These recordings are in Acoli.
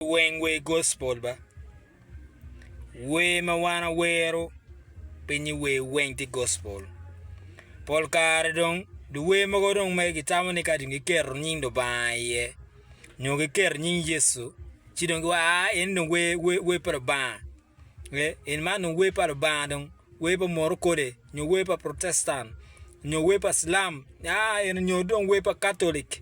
Weng wer gospel ba. Wer ma wan awero pe nyi wer weng tye gospel. Pol kare dong dye wer mogo dong mere gitamo ni ka dong giketo nying Lubanga iye nyo giketo nying Yecu ci dong giwaco aa eni dong wer wer wer pa Lubanga ee eni man dong wer pa Lubanga dong wer pa murokole nyo wer pa protestan nyo wer pa cilam aa eni nyo dong wer pa katolic.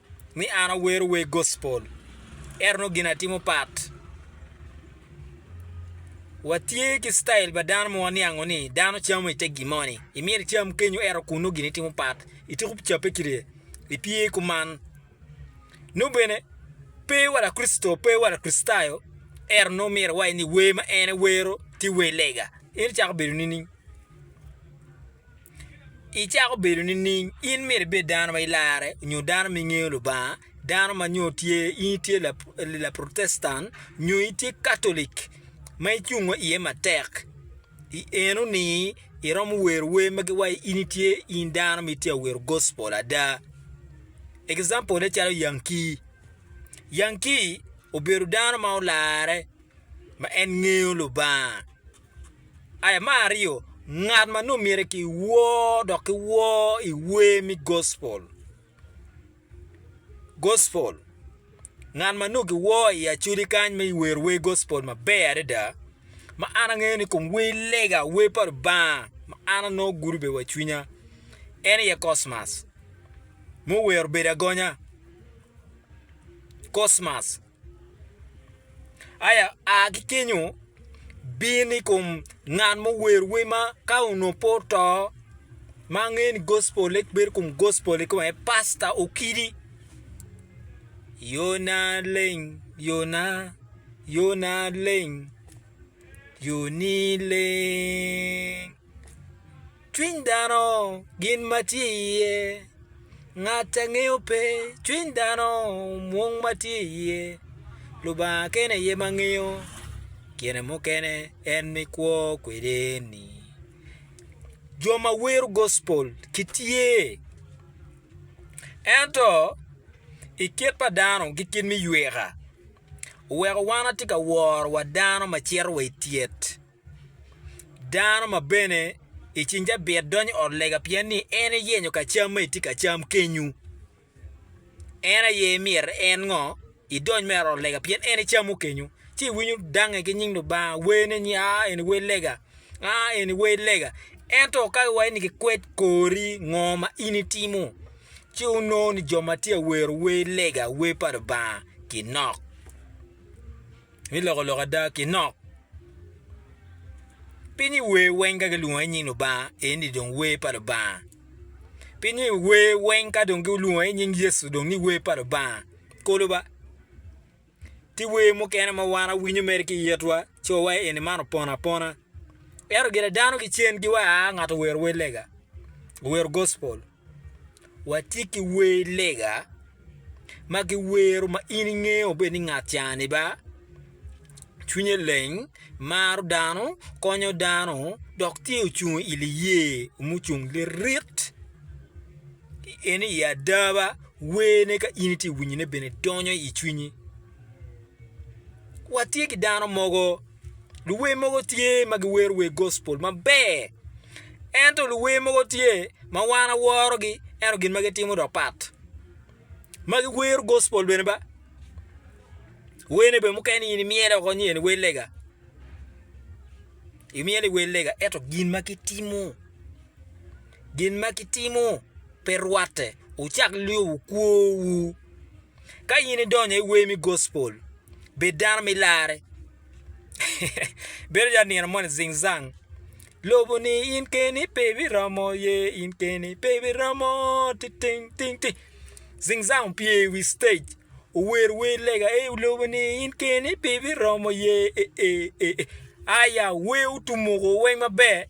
ni an awero weg gospel, ento nongo gin atimo pat. Watye ki citail pa dano ma waniango ni dano camo i te gin moni, imito icam kenyo ento kun nongo gin itimo pat, ityeko cabbe ki ryek, ipye kuman. Nongo bene pe wa Lakricito, pe wa Lakricitayo, ento nongo myero iwaci ni wer ma en ewero tye wer lega, en ecako bedo nining? icako bedo nining? In myero ibed dano ma ilarre nyo dano ma ingeyo Lubanga, dano ma nyo tye in itye Laprotestant nyo itye Katolic ma icungo iye matek i eno-ni iromo wero wer ma giwaci in itye in dano ma itye ka wero gospol ada. Example-le calo Yankee, Yankee obedo dano ma olarre ma en ngeyo Lubanga Aya me aryo, ngat ma nongo myero ki wor dok ki wor i wer me gospel, gospel, ngat ma nongo ki wor i acoli kany me wero wer gospel maber adada ma an angeyo ni kom wer lega wer pa Lubanga ma an anongo gudo bene wa i cwinya en aye Cosmas ma owero bedo agonya Cosmas. Aya, a ki kenyo, bin i kom ngat ma ower wer ma ka onongo pe oto ma angeyo ni gospole bedo i kom gospole kong aye pasta Okidi yona leng yona yona leng yoni leng. Cwiny dano gin ma tye iye, ngat angeyo pe, cwiny dano mwong ma tye iye, Lubanga kene aye ma ngeyo, kine mukene en mikwo kwede ni. Jo ma wiro gospel gitye, ento i kit pa dano ki kit me yweka oweko wan watye ka woro wa dano ma cito wa i tyet. Dano ma bene i cing cabit donyo i ot lega pien ni en iyenyo ka cam ma itye ka cam kenyu. En aye myero en ngo idony mere i ot lega pien en icamo kenyu ci iwinyo dange ki nying Lubanga wene ni aa eni wer lega aa eni wer lega ento ka iwaco ni kikwed kori ngo ma in itimo ci onongo ni jo ma tye ka wero wer lega wer pa Lubanga kinok. Mi loko lok ada ki nok. Pi ni wer weng ka gilwongo i nying Lubanga, en ni dong wer pa Lubanga. Pi ni wer weng ka dong gilwongo i nying Yecu dong ni wer pa Lubanga. Kolo ba. Ti wer mukene ma wan awinyo mere ki itwa, ci wawaye eni man opono apona. Ento gire dano ki cen ki wa a ngato owero wer lega, owero gospel. Watye ki wer lega ma giwero ma in ingeyo bene ni ngat cani ba, cwinye leng, maro dano, konyo dano dok tye ocung i liye mucung lirit en i ada ba wene ka in itye ka winyo ne bene donyo i cwinyi watye ki dano mogo Luwer mogo tye ma giwero wer gospel maber. Ento luwer mogo tye ma wan aworogi ento gin ma gitimo dok pat. Ma giwero gospel bene ba. Werne bene mukene in imyelo woko ni en wer lega. Imyelo ni wer lega ento gin ma gitimo, gin ma gitimo pe rwatte. Wucak lyobo kwowu. Ka in idonyo i wer me gospel, bed dano ma ilarre. Bedo calo nino moni Zing Zang, Lobo-ni in keni pe ibiromo ye, in keni pe ibiromo ti ting ting ti. Zing Zang opye i wi citec owero wer lega ei lobo-ni in keni pe ibiromo ye e e e e. Aya, wer otumuko weng maber.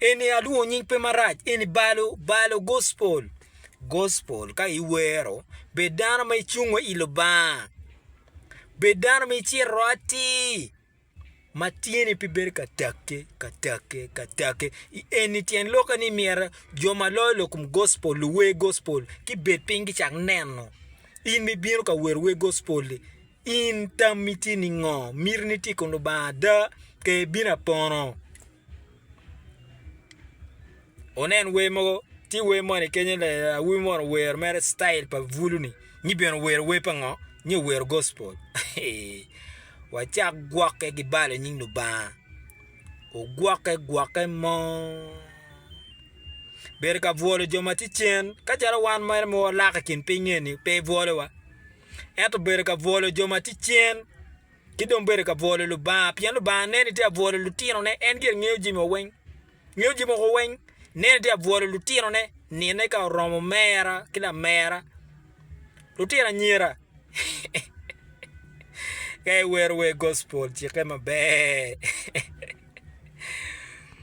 Eni alwongo nying pe marac eni balo balo gospel gospel ka iwero bed dano ma icung wa i Lubanga bed dano ma icito atir ma tyeni pe bedo ka take ka take ka take eni tyen lokke ni myero jo ma loyo lok kom gospel luwer gospel gibed piny gicak neno in ma ibino ka wero wer gospel-li. In tammi tye ningo? Mitini tye kun Lubanga ada ka ebin apono? Wunen wer mogo, tye wer moni kenyo awobi moni owero mere i citayel pa bulu ni nyi bene owero wer pa ngo? Nyi owero gospol wacak gwokke ki balo i nying Lubanga ogwokke gwokke mo bedo ka bwolo jo ma tye cen ka calo wan mere ma walak i kin piny eni pe ibwolowa. ento obedo ka bwolo jo ma tye cen, ki dong bedo ka bwolo Lubanga, pien Lubanga neno ni tye ka bwolo lutinone, en gire ngeyo jami wa weng, ngeyo jami moko weng, neno ni tye ka bwolo lutinone, nine ka oromo mera ki lamera, lutino anyira ka iwero wer gospel cikke maber.